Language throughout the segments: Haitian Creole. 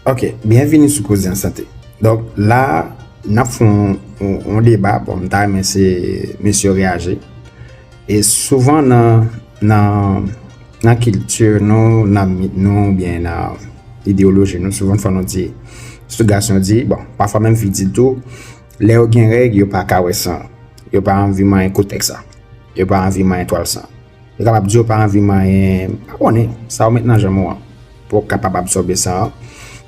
Ok, byenvini sou koze an sante. Donk la n ap fè yon deba, bon m ta renmen se mesye yo reyaji. E souvan nan kilti nou, nan mit nou oubyen nan ideyoloji nou souvan fò nou di, sitou gason di, bon pafwa menm fi di tou, lè yo gen règ yo pa ka wè san, yo pa anvi manyen koutèk sa, yo pa anvi manyen twal sa. Yo kapab di yo pa anvi manyen, m pa konnen, sa ou met nan janm ou an pou ou kapab absòbe san an.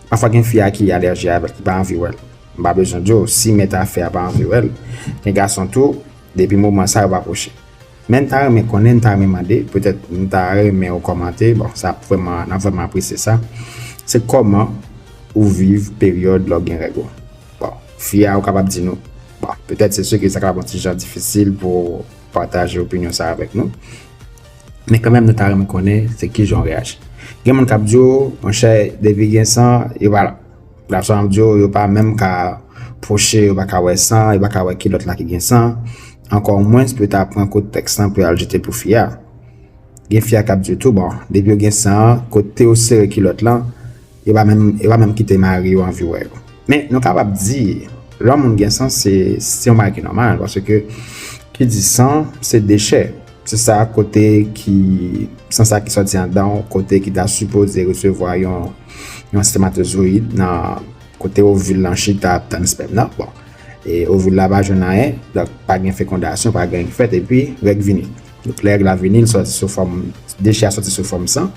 Pafwa gen fi a ki alèji avè l, ki pa anvi wè l. M pa bezwen di w, si mèt afè a pa anvi wè l, gen gason tou, depi moman sa yo pa pwoche. Men m ta renmen konnen, m ta renmen mande, petèt m ta renmen ou kòmante, bon sa ap vrèman, n ap vrèman apresye sa, se kòman ou viv peryòd lè w gen règ ou? Bon, fi a ou kapab di nou, bon, petèt se si ke sa kapab yon ti jan difisil pou. pataje opinyon sa avèk nou. Men kanmèm nou ta renmen konnen se ki jan w reyaji. Gen moun k ap di yo, monchè, depi gen san, yo pa la. Gen lòt moun k ap di yo, yo pa menm ka pwoche, yo pa ka wè san, yo pa ka wè ki lòt la ki gen san. Ankò mwens pou yo ta pran kout tèks lan pou yo al jete pou fi a. Gen fi a k ap di yo tou, bon, depi yo gen san, kote yo sere kilòt lan, Yo pa menm yo pa menm kite mari yo anvi wè yo. Men nou kapab di lè yon moun gen san se se yon bagay ki nòmal paske ki di san se dechè se sa kote ki san sa ki sòti andan w kote ki ta sipoze resevwa yon yon sèmatozoyid nan kote ovil lan chita ap tann spèm nan bon e ovil la pa jwenn anyen donk pa gen fekondasyon pa gen anyen ki fèt epi règ vini. Donk lè règ la vini li sòti sou fòm dechè a sòti sou fòm san,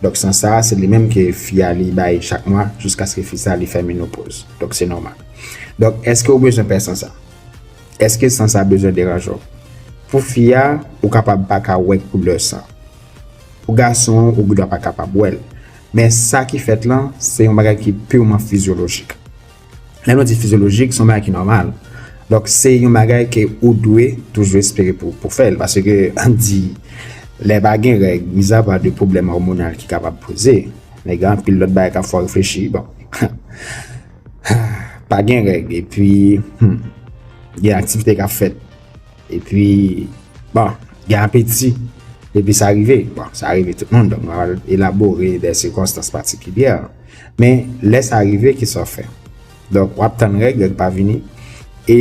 donk san sa se li menm ke fi a li bay chak mwa jiskaske fi sa li fè menopoz, donk se nòmal. Donk eske ou bezwen pè san sa? Eske san sa bezwen deranje w? Pou fi a ou kapab pa ka wè koulè san, pou gason an ou gendwa pa kapab wè l, men sa ki fèt lan se yon bagay ki pirman fizyolojik, Lè nou di fizyolojik, son bagay ki nòmal. Donk, se yon bagay ke ou dwe toujou espere pou fè l. Pase ke, an di, lè pa gen règ, miza pa de pwoblèm òmonal ki kapab poze, men gen anpil lòt bagay kap fè w reflechi. Bon, pa gen règ, epi, gen aktivite kap fèt. E pi, bon, gen apeti, depi sa rive, bon, sa rive tout moun, donk mwen al elabore de sikonstans patikilyè. Men, lè sa rive, ki sa w fè? Donk, w ap tann règ, règ pa vini, e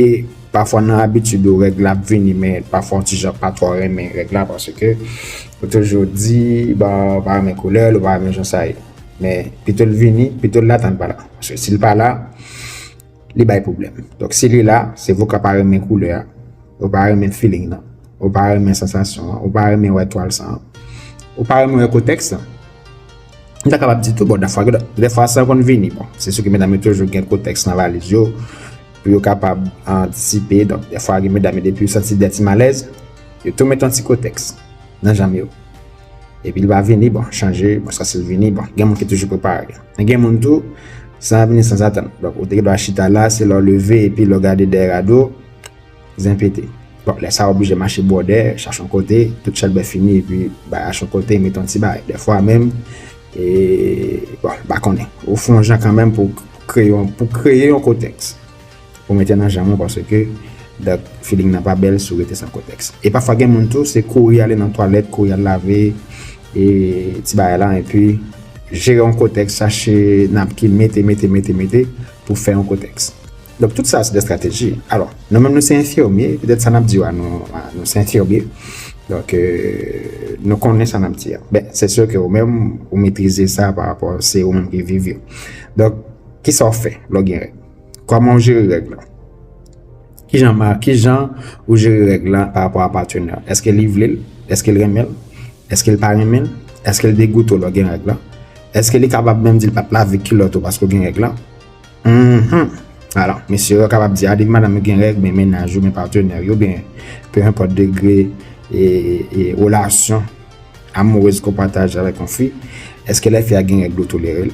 pafwa nan abitid ou règ la ap vini, men pafwa w ti jan pa twò renmen règ la, paske ou toujou di, bon, ou pa renmen koulè l, ou pa renmen jan sa ye. Men, pito l vini, pito l la tann pa la. Paske si l pa la. li bay pwoblèm. Donk si li la, se vou ka pa renmen koulè a, ou pa renmen feeling nan, ou pa renmen sansasyon an, ou pa renmen wè twal sa an, ou pa renmen wè kotèks lan. M ta kapab di tou bon dafwa gen dè fwa sa konn vini bon. Se sou ki medam yo toujou gen kotèks nan valiz yo pou yo kapab antisipe. Donk dè fwa gen medam yo depi yo santi dè ti malèz, yo tou met yon ti kotèks nan janm yo. Epi li pa vini, bon, chanje, bon, sa se l vini, bon, gen moun ki toujou prepare. Men gen moun tou, san ap vini san zatan. Donk, ou te gen dwa chita la, se lè w leve, epi lè w gade dèyè rado, zen pete. Bon, lè sa w oblije mache bwòdè, chache yon kote, tout chèlbè fini, epi bay ash yon kote, mete yon ti bagay. Dèfwa menm, e, bon, m pa konnen. Ou fè yon jan kanmenm pou kreye yon kontèks. Ou mete nan janm ou paske dat feeling nan pa bèl si w rete san kotèks. E pafwa gen moun tou se kouri ale nan twalèt, kouri al lave e ti bagay la enpi jere yon kotèks, chache napkin, mete, mete, mete, mete pou fè yon kotèks. Donk tout sa se de strateji. Alò, nou menm nou se enfimye, petèt sa nap di yo a nou se enfimye, donk nou konnen sa nap di a. Ben, se sè ke ou menm ou metrize sa pa rapò se ou menm ki viv yo. Donk, kisa w fè lè w gen règ? Kòman ou jere règ la? Ki jan ou jere règ la pa rapò a patenè? Eske li vle l? Eske l renmen l? Eske l pa renmen l? Eske l degoute ou lè w gen règ la? Eske li kapab menm di l pa t lave kilòt ou paske w gen règ la? Mh, alò, mesye yo kapab di a, depi madanm yo gen règ, men mennaj yo, men patenè yo, ben, pe enpòt degre e relasyon amourez ke w pataje avèk yon fi, eske lè fi a gen règ li w tolere l?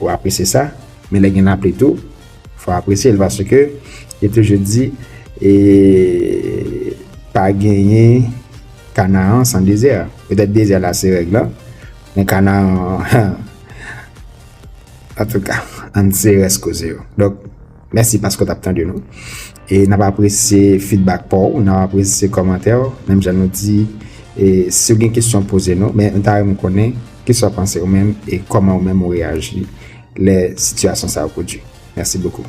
Ou apresye sa, men lè gen lapli tou, fò apresye l paske yo toujou di e pa genyen Kanaan san dezè. Petèt dezè la se règ lan, men Kanaan, antouka, ann serès koze yo. Mèsi paske w t ap tande nou. E n ap apresye fidbak pa w, n ap apresye kòmantè w. Menm jan nou di, si w gen kesyon poze nou. Men nou ta renmen konnen ki sa w panse ou menm e kòman ou menm ou reyaji lè sitiyasyon sa yo pwodui. Mèsi bokou.